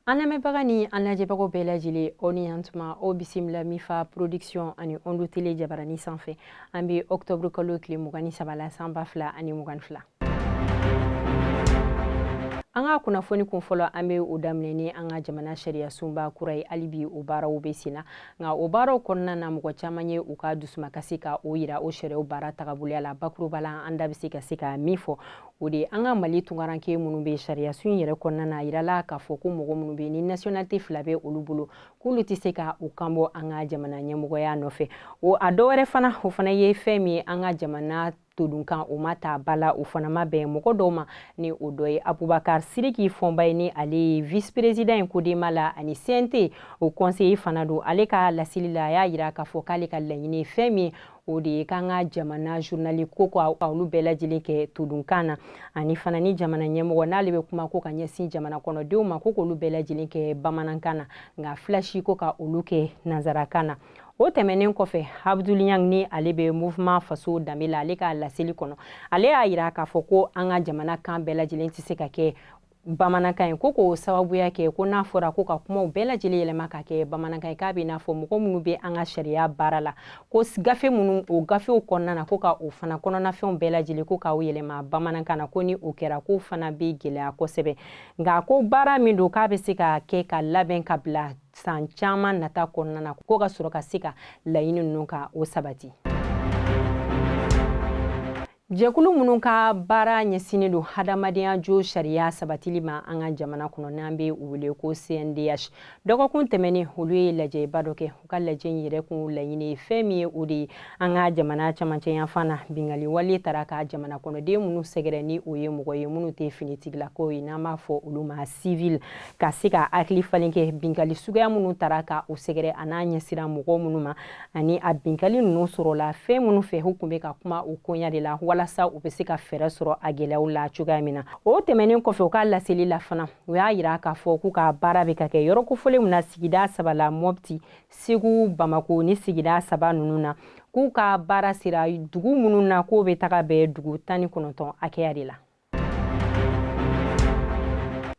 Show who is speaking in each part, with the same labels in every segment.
Speaker 1: an lamɛnbaga ni an lajɛbagaw bɛɛ lajɛlen aw ni yantuma aw bisimila mifa production ani ondu tele jabarani sanfɛ an bɛ octobre kalo tile mugan ni saba la san ba fila ani mugan fila an ka kunnafoni kun fɔlɔ an bɛ o daminɛ ni an ka jamana sariyasunba kura ye hali bi o baaraw bɛ sen na nka o baaraw kɔnɔna na mɔgɔ caman ye u ka dusumakasi ka o yira o sariyaw baara tagaboloya la bakuruba la an da bɛ se ka se ka min fɔ o de an ka mali tunkaranke minnu bɛ sariyasun yɛrɛ kɔnɔna na a yirala k'a fɔ ko mɔgɔ minnu bɛ ni nationalité fila bɛ olu bolo k'olu tɛ se ka u kanbɔ an ka jamana ɲɛmɔgɔya nɔfɛ o a dɔ wɛrɛ fana o fana ye fɛn min ye an ka jamana todunkan o ma ta ba la o fana ma bɛn mɔgɔ dɔw ma ni o dɔ ye abubakar siriki fɔnba ye ni ale ye vice président ye corema la ani cnt o conseiller fana don ale ka laseli la a y'a yira k'a fɔ k'ale ka laɲini ye fɛn min ye o de ye k'an ka jamana journali ko ka olu bɛɛ lajɛlen kɛ todunkan na ani fana ni jamana ɲɛmɔgɔ n'ale bɛ kuma ko ka ɲɛsin jamana kɔnɔdenw ma ko k'olu bɛɛ lajɛlen kɛ bamanankan na nka flashi ko ka olu kɛ nanzarakan na o tɛmɛnen kɔfɛ abdul niang ni ale bɛ mouvement faso danbe la ale ka laseli kɔnɔ ale y'a yira k'a fɔ ko an ka jamana kan bɛɛ lajɛlen tɛ se ka kɛ bamanankan ye ko k'o sababuya kɛ ko n'a fɔra ko ka kumaw bɛɛ lajɛlen yɛlɛma ka kɛ bamanankan ye k'a bɛ n'a fɔ mɔgɔ minnu bɛ an ka sariya baara la ko gafe minnu o gafew kɔnɔna na ko ka o fana kɔnɔnafɛnw bɛɛ lajɛlen ko k'o yɛlɛma bamanankan na ko ni o kɛra k'o fana bɛ gɛlɛya kosɛbɛ nka ko baara min don k'a bɛ se ka kɛ ka labɛn ka bila san caman nata kɔnɔna na ko ka sɔrɔ ka se ka laɲini ninnu ka o sabati Jɛkulu minnu ka baara ɲɛsinnen don hadamadenya josariya sabatili ma an ka jamana kɔnɔ n'an bɛ u wele ko CNDH dɔgɔkun tɛmɛnen olu ye lajɛba dɔ kɛ u ka lajɛ in yɛrɛ kun laɲini ye fɛn min ye o de ye an ka jamana camancɛ yanfan na bingali wale taara ka jamana kɔnɔden minnu sɛgɛrɛ ni o ye mɔgɔ ye minnu tɛ finitigilakaw ye n'an b'a fɔ olu ma civil ka se ka hakili falen kɛ bingali suguya minnu taara ka u sɛgɛrɛ an'a ɲɛsira mɔgɔ minnu ma ani a binkali ninnu sɔrɔla fɛn minnu fɛ u kun bɛ ka kuma o koɲa de la walasa u bɛ se ka fɛɛrɛ sɔrɔ a gɛlɛyaw la cogoya min na o tɛmɛnen kɔfɛ u ka laseli la fana u y'a yira k'a fɔ k'u ka baara bɛ ka kɛ yɔrɔ kofɔlenw na sigida saba la mɔpti segu bamako ni sigida saba ninnu na k'u ka baara sera dugu minnu na k'o bɛ taga bɛn dugu tan ni kɔnɔntɔn hakɛya de la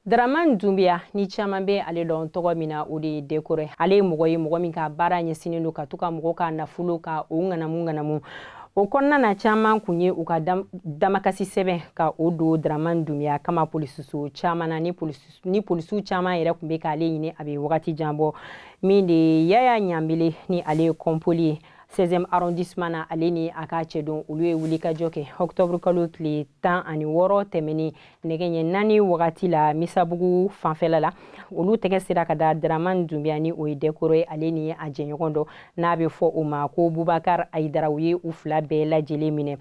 Speaker 1: Daraman Dunbiya ni caman bɛ ale dɔn tɔgɔ min na o de ye Dekore ale ye mɔgɔ ye mɔgɔ min ka baara ɲɛsinnen don ka to ka mɔgɔ ka nafolo ka o ŋanamu ŋanamu o kɔnɔna na caman kun ye u ka damakasi sɛbɛn ka o don Daraman Dunbiya kama polisiso caman na ni polisiw caman yɛrɛ kun bɛ k'ale ɲini a bɛ wagati jan bɔ min de ye Yaya Ɲanbele ni ale ye kɔnpoli ye 16e arrondissement na ale ni a ka cɛdenw olu ye wulikajɔ kɛ octobre kalo tile tan ani wɔɔrɔ tɛmɛnen nɛgɛ ɲɛ naani wagati la misabugu fanfɛla la olu tɛgɛ sera ka da daraman dunbiya ni o ye dɛkɔrɔ ye ale ni a jɛɲɔgɔn dɔ n'a bɛ fɔ o ma ko bubakar ayidara u ye u fila bɛɛ lajɛlen minɛ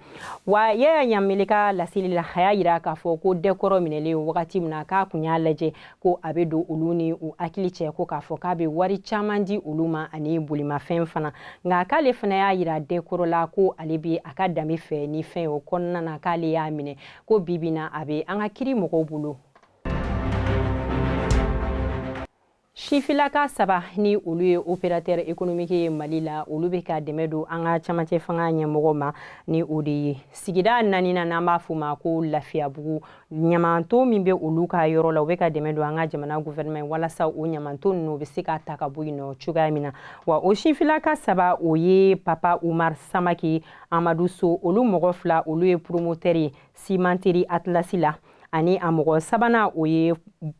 Speaker 1: wa yaya ɲanbele ka laseli la a y'a yira k'a fɔ ko dɛkɔrɔ minɛlen wagati min na k'a kun y'a lajɛ ko a bɛ don olu ni u hakili cɛ ko k'a fɔ k'a bɛ wari caman di olu ma ani bolimafɛn fana nka k'ale fana y'a yira dɛkɔrɔ la ko ale bɛ a ka danbe fɛ ni fɛn o kɔnɔna na k'ale y'a minɛ ko bibi na a bɛ an ka kiri mɔgɔw bolo sifilaka saba ni olu ye opérateur économique ye mali la olu bɛ ka dɛmɛ don an ka cɛmancɛ fanga ɲɛmɔgɔ ma ni o de ye sigida naaninan n'an b'a fɔ ma ko lafiyabugu ɲamanton min bɛ olu ka yɔrɔ la u bɛ ka dɛmɛ don an ka jamana gouvernement ye walasa o ɲamanton ninnu u bɛ se ka ta ka bɔ yen nɔ cogoya min na wa o sinfilaka saba o ye papa umar samake amadu so olu mɔgɔ fila olu ye promoteur ye cimenterie atlas la ani a mɔgɔ sabanan o ye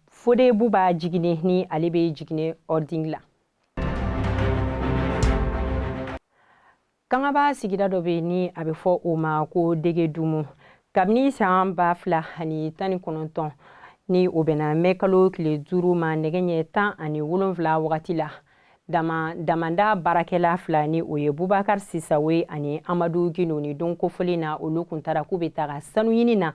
Speaker 1: fode buba jigine ni ale bɛ jigine holding la kangaba sigida dɔ bɛ ni a bɛ fɔ o ma ko degedumu kabini san ba fila ani tan ni kɔnɔntɔn ni o bɛnna mɛ kalo tile duuru ma nɛgɛ ɲɛ tan ani wolonwula wagati la dama damanda baarakɛla fila ni o ye bubakar sisawo ani amadu gino ni don kofɔlen na olu kun taara k'u bɛ taga sanu ɲini na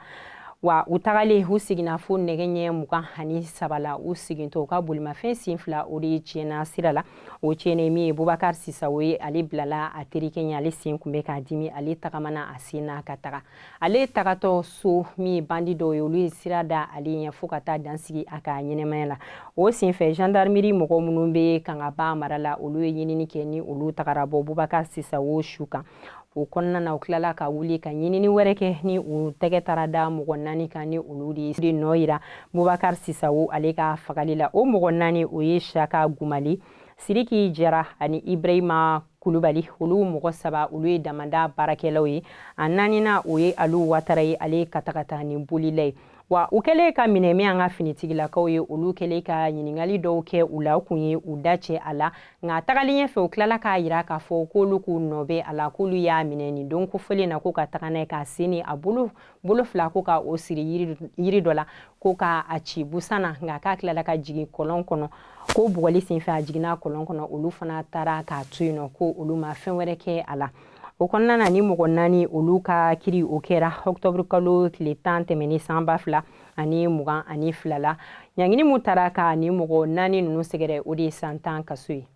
Speaker 1: wa u tagalen u seginna fo nɛgɛ ɲɛ mugan ani saba la u segintɔ u ka bolimafɛn sen fila o de tiɲɛna sira la o cɛnnen min ye bubakar sisawo ye ale bilala a terikɛ ɲɛ ale sen kun bɛ k'a dimi ale tagamana a sen na ka taga ale tagatɔ so min ye bandi dɔw ye olu ye sira da ale ɲɛ fo ka taa dan sigi a ka ɲɛnamaya la o senfɛ gendarmerie mɔgɔ minnu bɛ kangaba mara la olu ye ɲinini kɛ ni olu tagara bɔ bubakar sisawo su kan o kɔnɔna na u tilala ka wuli ka ɲinini wɛrɛ kɛ ni u tɛgɛ taara da mɔgɔ naani kan ni olu de nɔ yera bubakar sisawo ale ka fagali la o mɔgɔ naani o ye shaka gumali siriki jara ani ibrahima kulubali olu mɔgɔ saba olu ye damanda baarakɛlaw ye a naaninan o ye alu watara ye ale ye katakatanin bolila ye wa u kɛlen ka minɛ min an ka finitigilakaw ye olu kɛlen ka ɲininkali dɔw kɛ u la u kun ye u da cɛ a la nka tagalen ɲɛ fɛ u tilala k'a yira k'a fɔ k'olu k'u nɔ bɛ a la k'olu y'a minɛ nin don kofɔlen na ko ka taga n'a ye k'a sen ni a bolo bolo fila ko ka o siri yiri dɔ la ko ka a ci busan na nka k'a tilala ka jigin kɔlɔn kɔnɔ ko bugɔli senfɛ a jiginna kɔlɔn kɔnɔ olu fana taara k'a to yen nɔ ko olu ma fɛn wɛrɛ kɛ a la o kɔnɔna na nin mɔgɔ naani olu ka kiri o kɛra ɔktɔburu kalo tile tan tɛmɛnen san ba fila ani mugan ani fila la ɲangini min tara ka nin mɔgɔ naani ninnu sɛgɛrɛ o de ye san tan kaso ye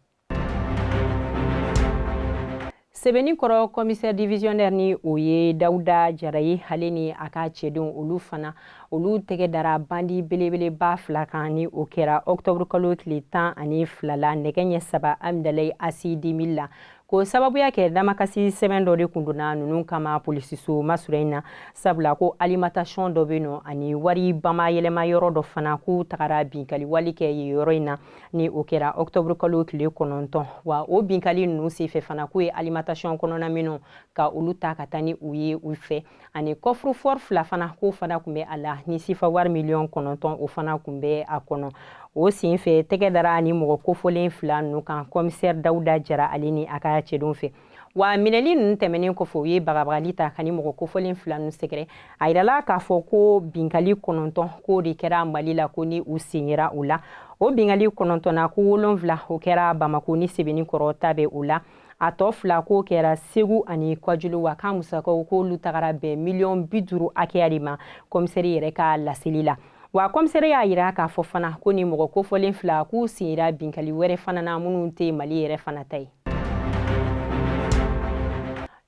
Speaker 1: sebeninkɔrɔ kɔmisɛri divisiyɔnɛri ni o ye dawuda jara ye ale ni a ka cɛdenw olu fana olu tɛgɛ dara bandi belebeleba fila kan ni o kɛra ɔktɔburu kalo tile tan ani fila la nɛgɛ ɲɛ saba amidalayi aci deux mille la ko sababuya kɛ damakasi sɛbɛn dɔ de kun donna ninnu kama polisiso masura in na sabula ko alimentation dɔ bɛ nɔ ani wari bamayɛlɛma yɔrɔ dɔ fana k'u tagara binkali wale kɛ yen yɔrɔ in na ni o kɛra octobre kalo tile kɔnɔntɔn wa o binkali ninnu senfɛ fana k'u ye alimentation kɔnɔna minɛnw ka olu ta ka taa ni u ye u fɛ ani coffre-fort fila fana k'o fana kun bɛ a la ni sefa wari miliyɔn kɔnɔntɔn o fana kun bɛ a kɔnɔ o sen fɛ tɛgɛ dara nin mɔgɔ kofɔlen fila ninnu kan kɔmisɛri dawuda jara ale ni a ka cɛdenw fɛ wa minɛli ninnu tɛmɛnen kɔfɛ u ye bagabagali ta ka nin mɔgɔ kofɔlen fila ninnu sɛgɛrɛ a yirala k'a fɔ ko binkali kɔnɔntɔn k'o de kɛra mali la ko ni u sen yera o la o binkali kɔnɔntɔn na ko wolonwula o kɛra bamako ni sebeninkɔrɔ ta bɛ o la a tɔ fila k'o kɛra segu ani kajolo wa k'a musakaw k'olu tagara bɛn miliyɔn bi duuru hakɛya de ma kɔmisɛri yɛrɛ ka laseli la wa kɔmisɛri y'a yira k'a fɔ fana ko nin mɔgɔ kofɔlen fila k'u sen yera binkali wɛrɛ fana na minnu tɛ mali yɛrɛ fana ta ye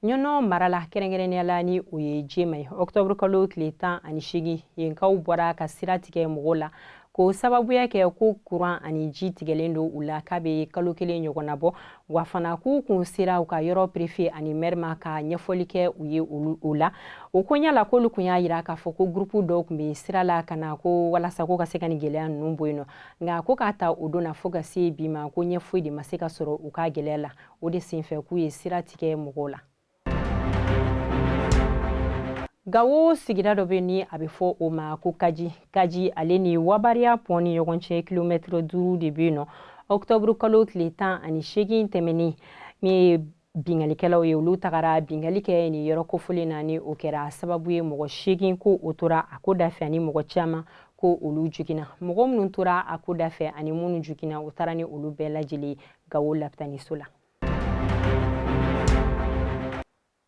Speaker 1: ɲɔnɔ mara la kɛrɛnkɛrɛnnenya la ni o ye jema ye ɔktɔburu kalo tile tan ani seegin yenkaw bɔra ka sira tigɛ mɔgɔw la k'o sababuya kɛ ko kuran ani ji tigɛlen don u la k'a bɛ kalo kelen ɲɔgɔnna bɔ wa fana k'u kun sera u ka yɔrɔ perefe ani mɛri ma ka ɲɛfɔli kɛ u ye o la o koɲa la k'olu kun y'a yira k'a fɔ ko gurupu dɔw kun bɛ sira la ka na ko walasa ko ka se ka nin gɛlɛya ninnu bɔ yen nɔ nka ko k'a ta o don na fo ka se bi ma ko ɲɛ foyi de ma se ka sɔrɔ u ka gɛlɛya la o de senfɛ k'u ye sira tigɛ mɔgɔw la gawo sigira dɔ bɛ ni a bɛ fɔ o ma ko kaji kaji ale ni wabariya pɔn ni ɲɔgɔn cɛ kilomɛtiri duuru de bɛ yen nɔ ɔkutɔburu kalo tile tan ani seegin tɛmɛnen min ye binkalikɛlaw ye olu tagara binkali kɛ nin yɔrɔ kofɔlen na ni o kɛra sababu ye mɔgɔ seegin ko o tora a ko da fɛ ani mɔgɔ caman ko olu joginna mɔgɔ minnu tora a ko da fɛ ani minnu joginna o taara ni olu bɛɛ lajɛlen gawo lapitaniso la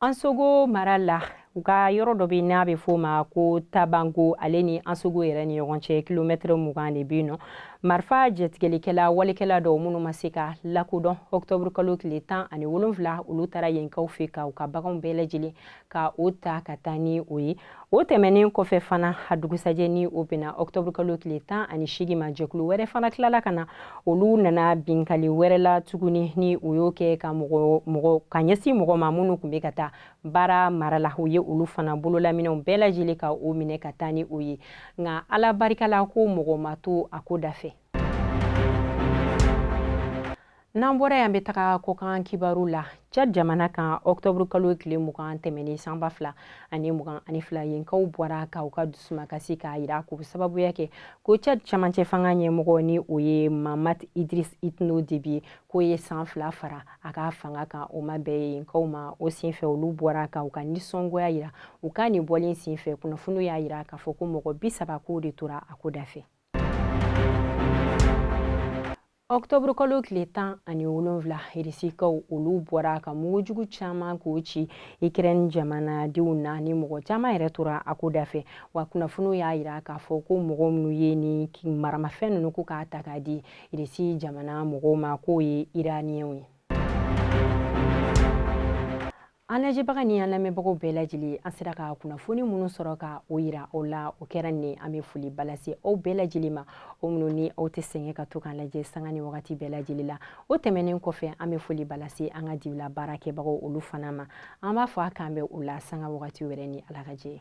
Speaker 1: ansogo mara la u ka yɔrɔ dɔ bɛ n'a bɛ f'o ma ko tabango ale ni ansogo yɛrɛ ni ɲɔgɔn cɛ kilomɛtɛrɛ mugan de bɛ yen nɔ marifa jatigɛlikɛla walekɛla dɔw minnu ma se ka lakodɔn ɔkutɔburukalo tile tan ani wolonwula olu taara yenkaw fɛ ka u ka baganw bɛɛ lajɛlen ka o ta ka taa ni o ye o tɛmɛnen kɔfɛ fana a dugusajɛ ni o bɛnna ɔktɔburu kalo tile tan ani seegin ma jɛkulu wɛrɛ fana tilala ka na olu nana binkali wɛrɛ la tuguni ni o y'o kɛ ka ka ɲɛsin mɔgɔ ma minnu tun bɛ ka taa baara mara la u ye olu fana bololaminɛw bɛɛ lajɛlen ka o minɛ ka taa ni o ye nka ala barika la ko mɔgɔ ma to a ko da fɛ N'an bɔra yan bɛ taga kɔkan kibaru la Tchad jamana kan octobre kalo tile mugan tɛmɛnen san ba fila ani mugan ani fila yenkaw bɔra ka u ka dusumakasi k'a yira k'o sababuya kɛ ko Tchad camancɛ fanga ɲɛmɔgɔ ni o ye Mahamat Idris Itno Deby ye k'o ye san fila fara a ka fanga kan o ma bɛn yenkaw ma o senfɛ olu bɔra ka u ka nisɔngoya yira u ka nin bɔlen senfɛ kunnafoniw y'a yira k'a fɔ ko mɔgɔ bi saba k'o de tora a ko da fɛ Ɔkutɔburu kalo tile tan ani wolonwula Irisikaw olu bɔra ka mugujugu caman k'o ci Ikɛrɛni jamanadenw na ni mɔgɔ caman yɛrɛ tora a ko da fɛ wa kunnafoniw y'a yira k'a fɔ ko mɔgɔ minnu ye nin maramafɛn ninnu ko k'a ta k'a di Irisi jamana mɔgɔw ma k'o ye Iraniyɛnw ye. An lajɛbaga ni an lamɛnbagaw bɛɛ lajɛlen an sera ka kunnafoni minnu sɔrɔ ka o yira aw la o kɛra nin an bɛ foliba lase aw bɛɛ lajɛlen ma o minnu ni aw tɛ sɛgɛn ka to k'an lajɛ sanga ni wagati bɛɛ lajɛlen la o tɛmɛnen kɔfɛ an bɛ foliba lase an ka dibila baarakɛbagaw olu fana ma an b'a fɔ a k'an bɛn o la sanga wagati wɛrɛ ni ala ka jɛ